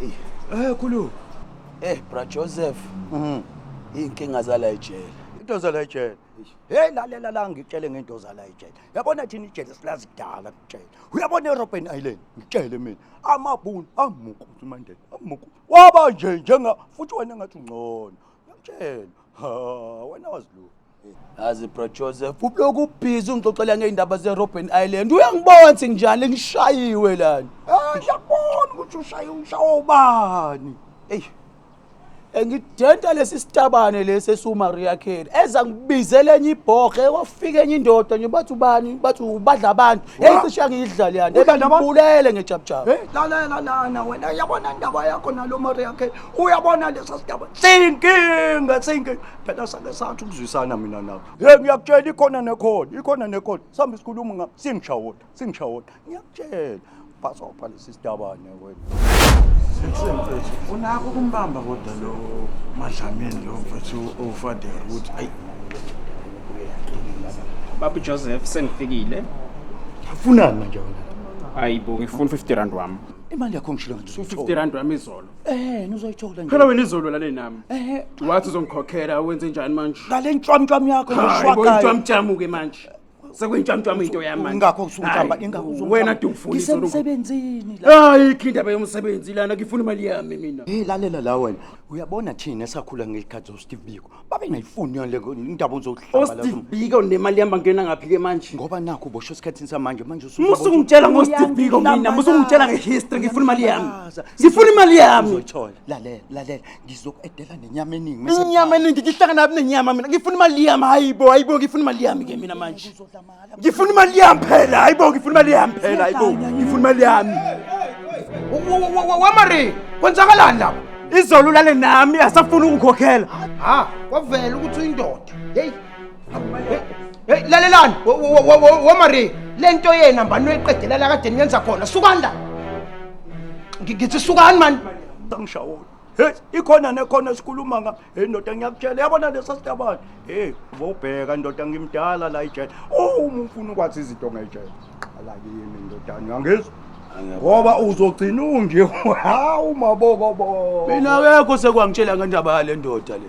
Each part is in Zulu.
Eyi. Eh khulu. Eh bra Joseph. Mhm. Inkinga zala ejele. Into zala ejele. Hey lalela la ngitshele ngento zala ejele. Yabona thina ijele silazi kudala ngitshele. Uyabona eRobben Island ngitshele mina. Amabhunu amuku uMandela. Amuku. Waba nje njenga futhi wena ngathi ungcono. Ngitshele. Ha, wena wazi lo. Azi bro Joseph, ubloku ubhizi ungixoxela ngeindaba zeRobben Island. Uyangibona ukuthi nginjani ngishayiwe lana. Ah, ngiyakubona ukuthi ushaye umshawo ubani. Ey. Engidenta lesi sitabane lesi esuMaria Carey. Eza ngibizela enye ibhoge kwafika enye indoda nje bathi ubani bathi ubadla abantu. Hey Wa- cisha ngiyidlali yani. Udla nabantu? Ebulele ngejabujaba. Hey, lalela lana wena yabona indaba yakho nalo Maria ke uyabona lesa sidaba sinkinga sinkinga phela sake sathi ukuzwisana mina nawe ye ngiyakutshela ikhona nekhona ikhona nekhona sambe sikhuluma ngam singishawona singishawona ngiyakutshela bhasopha lesi sidabane wena unako ukumbamba kodwa lo madlamini lo mfethu owufadela ukuthi ayi babu joseph sengifikile afunani manje wena hayi bo ngifuna 50 rand wami imali yakho ngishilo ngathi 50 rand wami izolo Eh, nizoyithola nje. Phela wena izolwela le nami. Eh, Wathi uzongikhokhela wenze njani manje? ngale ntshwamntshwam yakho Hayi, ngishwakayo. boyintshwamtshamu ke manje. Sekuyintshwamtshamu into yami manje. Ingakho usungihlamba, Hayi, ingakho usungihlamba. Wena dumfuni izolo. Ngisemsebenzini la. Hayi, ikho indaba yomsebenzi lana ngifuna imali yami mina. Hey lalela la wena. Uyabona thina esakhula ngelikhathi zoSteve Biko. babengayifuni yona leko indaba uzohlamba osteve biko nemali yami bangena ngaphi ke manje ngoba nakho ubosho esikhathini samanje manje usuke musa ungitshela ngosteve biko mina musa ungitshela ngehistory ngifuna imali yami ngifuna imali yami uzoyithola lalela lalela ngizokuedela nenyama eningi mase inyama eningi ngihlangana nabi nenyama mina ngifuna imali yami hayibo hayibo ngifuna imali yami ke mina manje ngifuna imali yami phela hayibo ngifuna imali yami phela hayibo ngifuna imali yami wamari kwenzakalani lapho izolo ulale nami asafuni ukungikhokhela ha kwavela ukuthi uyindoda heyi heyi lalelani wamari le nto yena mbani uyiqedelela kade niyenza khona sukani la ngithi sukani mani angishawoyo Hey, ikhona nekhona sikhuluma nga. Hey ndoda ngiyakutshela yabona lesa sitabane. Hey, ubobheka ndoda ngimdala la ijele. Oh, uma ufuna ukwazi izinto ngejele. Qala kimi ndodana uyangizwa? Ngoba uzogcina unje. Hawu mabokobo. Mina akekho sekwangitshela ngendaba yale ndoda le.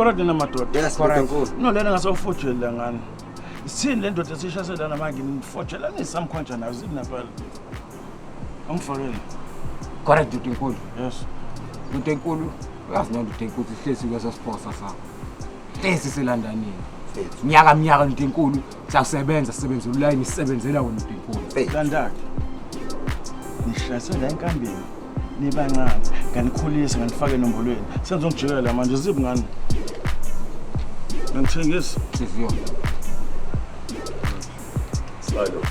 Khona dina madoda. Yes, Khona nkulu. No lena ngasofojela ngani. Sithini le ndoda esishasela namanje ngimfojelanisa mkhonja nayo zini naphela. Angifonele. Kodwa dude enkulu. Yes. Dude enkulu. Uyazi noma dude enkulu sihlezi kwesa sponsor sakho. Hlezi silandanini. Nyaka mnyaka dude enkulu siyasebenza sisebenza ulayini sisebenzela wena dude enkulu. Landani. Ngihlase la enkambeni. Nibancane. Nganikhulisa nganifaka enombolweni. Senzo ngijikela manje zibu ngani. Ngithengisa. Siziyona. Slide over.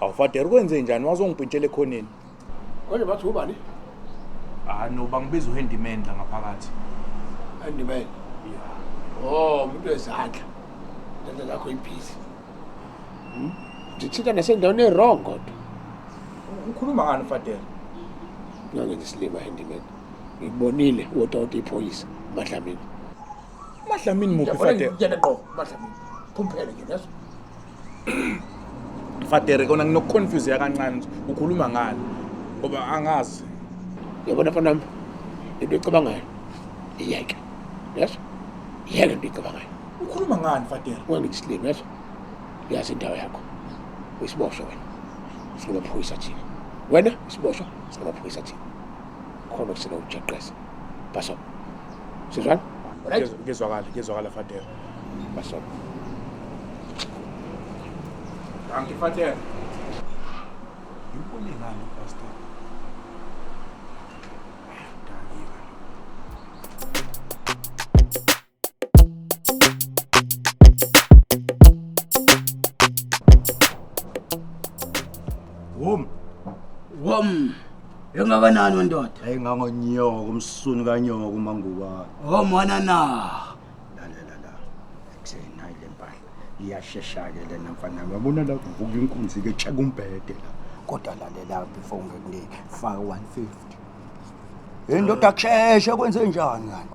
awufadera ukwenze njani wazongipintshela ekhoneni konje bathi ubani ah no bangibiza uhandyman la ngaphakathi handyman oh umuntu wezandla lento lakho ibhizi hmm? ndithinta nasendaweni e-wrong kodwa ukhuluma ngani fadela ngangendisilima handyman ngibonile wotota iphoyisa madlamini madlamini muphi fade yena qo madlamini phumphele nje leso fadere kona nginokuconfuse yakancane ukhuluma ngani ngoba angazi yabona fanami into ecabangayo iyeke yeso yeke into ecabangayo ukhuluma ngani fadere wangisilimi yeso yazi indawo yakho uyisiboshwa wena singamaphoyisa thina wena isiboshwa singamaphoyisa thina khona kusele ujeqeza baso sizwana right ngizwakala ngizwakala father baso Dankie father Yikho ngani pastor Wom. Wom. Engakanani wendoda? Hey ngangonyoko umsunu kanyoko umanguba. Oh mwana na. La la la la. Ekseni hayi lempahla. Iyashesha ke lena mfana. Yabona la kuvuka inkunzi ke check umbhede la. Kodwa lalela before ngikunike faka 150. Hey ndoda kusheshe kwenze njani kanti?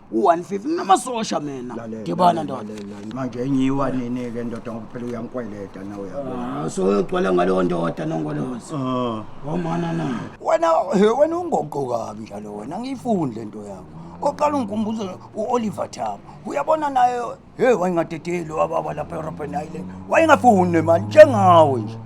u-150 namasosha mina Lalela, dibana ndoda lalela, lalela. manje enyiwa nini-ke ndoda ngoba phela uyangikweleta nawe yabo Ah, so uyogcwala ngaleyo ndoda nongolozi Ah. omana na wena he wena ungoqo kabi njalo wena angiyifuni le nto yakho oqala ungikhumbuza u-oliver thabo uyabona naye Hey wayingadedeli wababa lapha eRobben Island. Wayengafuni nemali njengawe nje.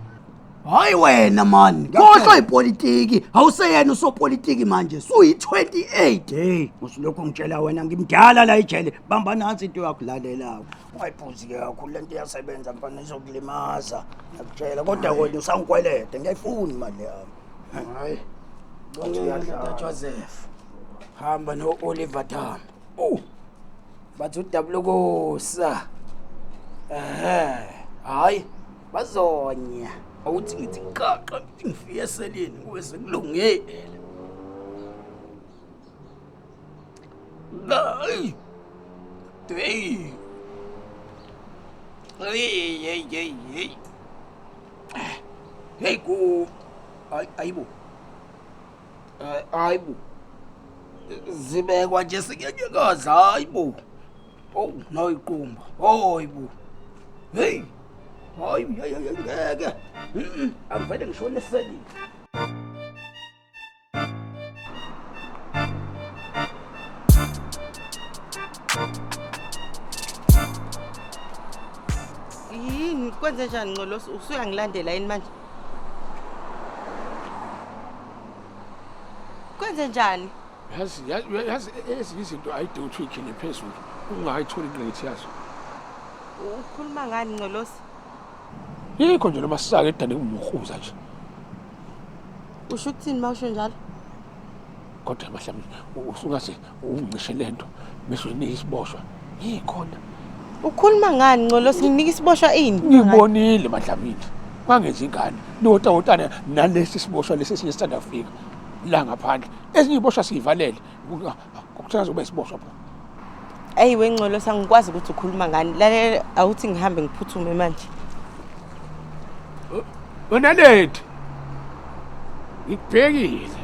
Hayi wena man, khohlwa ipolitiki, awuseyena usopolitiki manje, suyi-28. Hey, usilokhu ngitshela wena ngimdala la ejele. Bamba nansi into yakho lalelawo. Ungayiphuzi ke kakhulu lento iyasebenza mfana izokulimaza. Ngiyakutshela kodwa wena usangikwelede ngiyayifuni imali yami. Hayi. Ntatshwa Zef. Hamba no-Oliver Tambo. Uh. Bathi udabulokosa. Ehhe. Hayi. Bazonya. Awuthi ngithi qaqa ngifike eseleni kuweze kulungile. Hayi. Hey. Hey, hey, hey, hey. Hey, go. Ay, ay, bo. Eh, hayi bo zibekwa nje sinyanyekazi hayi bo ow noyiqumba hoyi bo heyi hayi hayi, hayi, ngeke Mm-mm, angivele ngishone eselile yini kwenze njani ncolosi usuyangilandela yini manje Kwenze njani? Yazi yazi- yazi ezinye izinto ayide uthi uyikhele phezulu ungayitholi ingqikithi yazo. Ukhuluma ngani Ngcolosi? Yikho nje noma sisake edane kumhuza nje. Usho ukuthini mawusho njalo? kodwa mhlawumbe usungaze ungicishe le nto bese uyinika isiboshwa yikhona ukhuluma ngani ncolo singinika isiboshwa ini ngibonile madlamini kwangenza ingane niwotawotana nalesi siboshwa lesi esinye sithanda kufika la ngaphandle ezinye iboshwa siyivalele kuthiwa zobe siboshwa phela Ayi wengcolo sangikwazi ukuthi ukhuluma ngani. Lalela awuthi ngihambe ngiphuthume manje. Wena late. Ngikubhekile.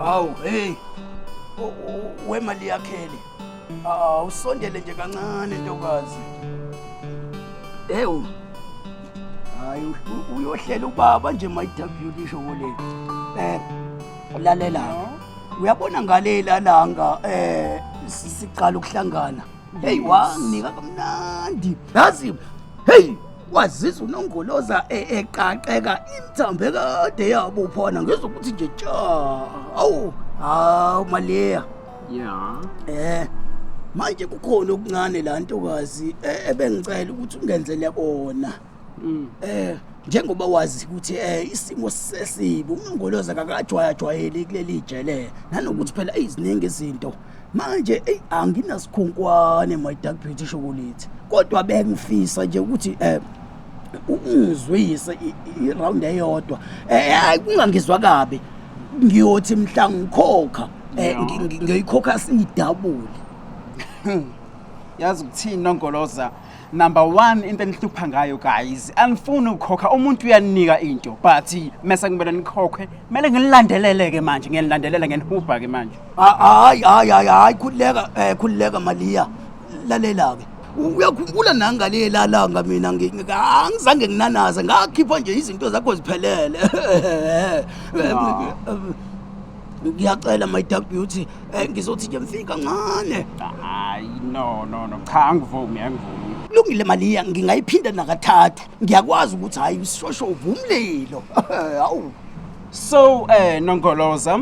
Awu hey. Wemali yakhele. Awusondele nje kancane ntokazi. Ewu. Hayi uyohlela ubaba nje mayidabhula isho kule. Eh lalela uyabona ngalela langa eh siqala ukuhlangana hey wanginika kamnandi yazi hey wazizwa unongoloza e- eqaqeka imthambe kade yabo phana ngizwa ukuthi nje tja awu hawu maleya ya eh manje kukhona okuncane la ntokazi e- ebengicela ukuthi ungenzele kona Mm. Eh njengoba wazi ukuthi eh isimo sesibi umngoloza kakajwayajwayeli kuleli jele nanokuthi phela iziningi izinto manje ey anginasikhunkwani my dark beauty shokolate kodwa bengifisa nje ukuthi eh ungizwise i- i- iround eyodwa eh ay, kungangizwa kabi ngiyothi mhla ngikhokha eh, ngi- ngi- ngiyoyikhokha siyidabule yazi ukuthini nongoloza number one into enihlupha ngayo guys anifuni ukukhokha umuntu uyaninika into but mese kumele nikhokhe kumele nginilandelele-ke manje ngiyanilandelela ngenihubha-ke manje hayi hayi hayi hayi khululeka um khululeka maliya lalela-ke uyakhumbula nangale lalanga mina ngi- ngi- angizange nginanaze ngakhipha nje izinto zakho ziphelele ngiyacela my dark beauty Eh ngizothi nje mfika kancane. Hayi no no no cha angivumi angivumi. Lungile maliya ngingayiphinda nakathathu. Ngiyakwazi ukuthi hayi usishosho uvumlilo. Hawu. So eh Nongoloza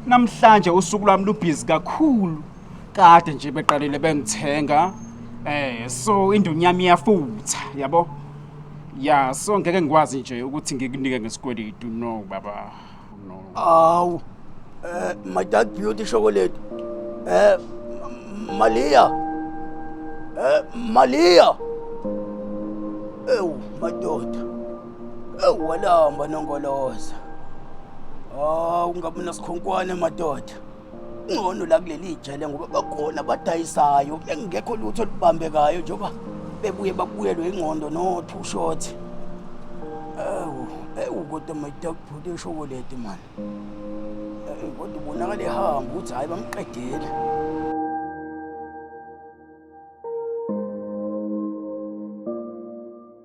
namhlanje usuku lwami lubhizi kakhulu. Kade nje beqalile bengithenga. Eh so indunyami iyafutha yabo. Ya so ngeke ngikwazi nje ukuthi ngikunike ngesikweletu no baba. Awu. Eh my dad beauty chocolate. Eh M- Malia. Eh Malia. Ewu madoda. Ewu walamba nongoloza. Awu ngabe nasikhonkwane madoda. Ngcono la kuleli ijele ngoba bakhona abadayisayo engekho lutho olubambekayo njengoba bebuye babuyelwe ingqondo no two shot. Ewu, ewu kodwa mayita kubhuti eshokoledi mani. Ewu, Kodwa ubonakala ehamba ukuthi hayi bamqedile.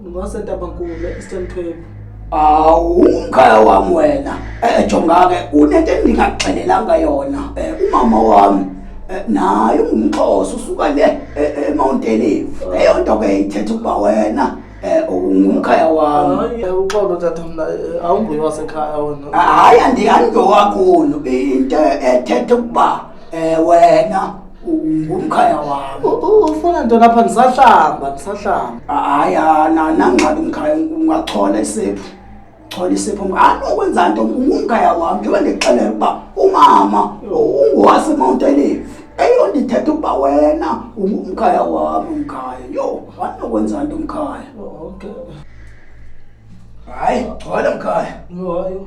Ngosentabamkulu Eastern Cape. Awu umkhaya wami wena. Eh jongake unento endingaxelelanga yona. Eh umama wami eh, naye ungumxhosa usuka le eh, eh, eMount Olive. Leyo nto ke ithetha ukuba wena eh ungumkhaya wami. Hayi uxolo tata mina eh, awunguye wasekhaya wena. Hayi andiyani ngowakhulu into ethetha ukuba Eh wena ngumkhaya wami. Ufuna nto lapha ngisahlamba ngisahlamba. Hayi ana nangabe umkhaya ungathola isephu. Thola isephu ngani ukwenza nto ngumkhaya wami njengoba ngixelela ukuba umama ungowase Mount Olive. Eyondithetha ukuba wena ungumkhaya wami umkhaya. Yo, wani ukwenza nto umkhaya. Oh, okay. Hayi, thola umkhaya. Yo, yo.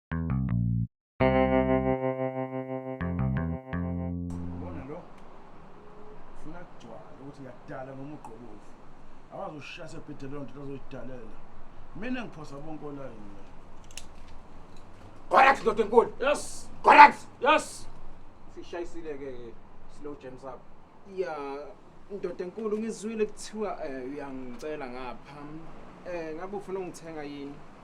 ushase bhede leyo nto azoyidalela mina ngiphosa bonke olayini correct ndoda enkulu yes correct yes sishayisile ke slow james up ya ndoda enkulu ngizwile kuthiwa eh, uyangicela ngapha um ngabe ufuna ungithenga yini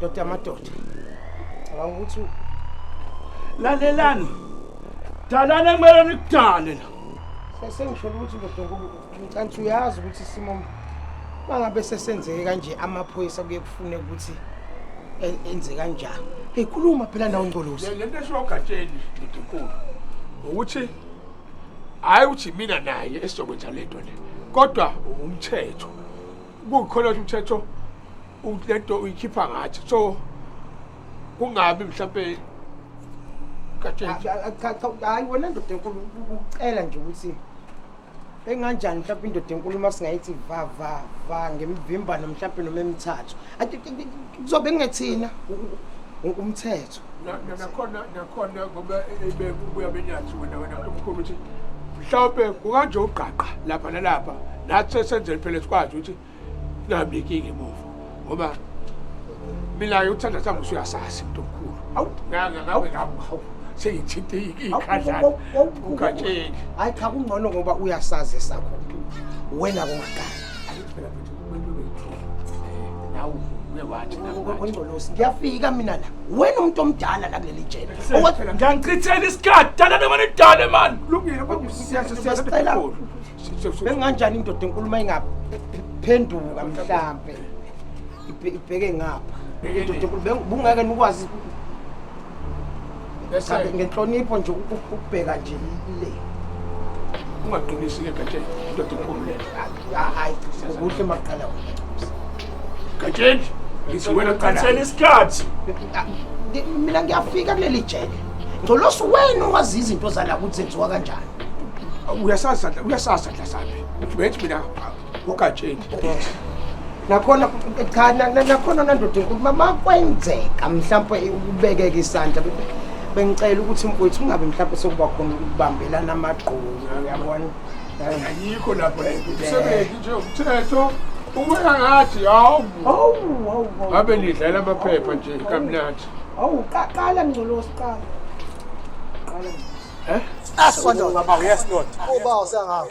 Dr. Amadoda. Cabanga ukuthi lalelani. Dalani ekumele nikudale la. Sesengisholo ukuthi ndoda ngicantsi uyazi ukuthi isimo mangabe sesenzeke kanje amaphoyisa kuye kufune ukuthi e-, enze kanjani. Hey khuluma phela nawo Ngcolosi. Le nto esho ogatsheni ndoda inkulu ukuthi hayi ukuthi mina naye esizokwenza le nto le kodwa umthetho kukhona ukuthi umthetho ukuthi le nto uyikhipha ngathi so kungabi mhlawumbe hayi wena ndoda enkulu ucela nje ukuthi enganjani mhlawumbe indoda enkulu uma singayithi va va va ngemivimbano mhlawumbe noma emithathu kuzobe kungethina umthetho nakhona nakhona ngoba ibe kubuya benyathi wena wena umkhulu ukuthi mhlawumbe kukanje ugqaqa lapha nalapha nathi sesenzele phela sikwazi ukuthi nami inkinga emuva ngoba mina uthanda sami usuyasazi mntu omkhulu awu ngangakawe ngawu sengithinta ikhandlana ugatsheni hayi cha kungcono ngoba uyasazi esakho wena kungaqala wengcolosi ngiyafika mina la wena umuntu omdala la kuleli jele ngiyangichithela isikhathi dala nemane dale mani benginganjani indoda enkulumo ayingaphi phenduka mhlampe ibheke ngapha indoda enkulu bungeke nikwazi Yes, sir. Kabi, ngenhlonipho nje u- u- ukubheka nje i- le ungaqinisi ke gatsheni indoda enkulu le Ah, hayi kuhle maqala gatsheni ngithi wena Ngicela qala isikhathi. Ah, ngi- mina ngiyafika kuleli jele ngcolosi wena owazi izinto zala ukuthi zenziwa kanjani uyasazi sadla uyasazi sadla sabi uthi bethi mina ugatsheni nakhona cha nakhona nandoda inkulu mama kwenzeka mhlawumbe ukubekeka isandla bengicela ukuthi mfowethu ungabe mhlawumbe sokuba khona ukubambelana amagqomu uyabona ayikho lapho umsebenzi nje umthetho ubeka ngathi hawu ngabe nidlala amaphepha nje kamnandi hawu qala mngcolosi qala qala eh aswandoda baba yes lord uba usengawo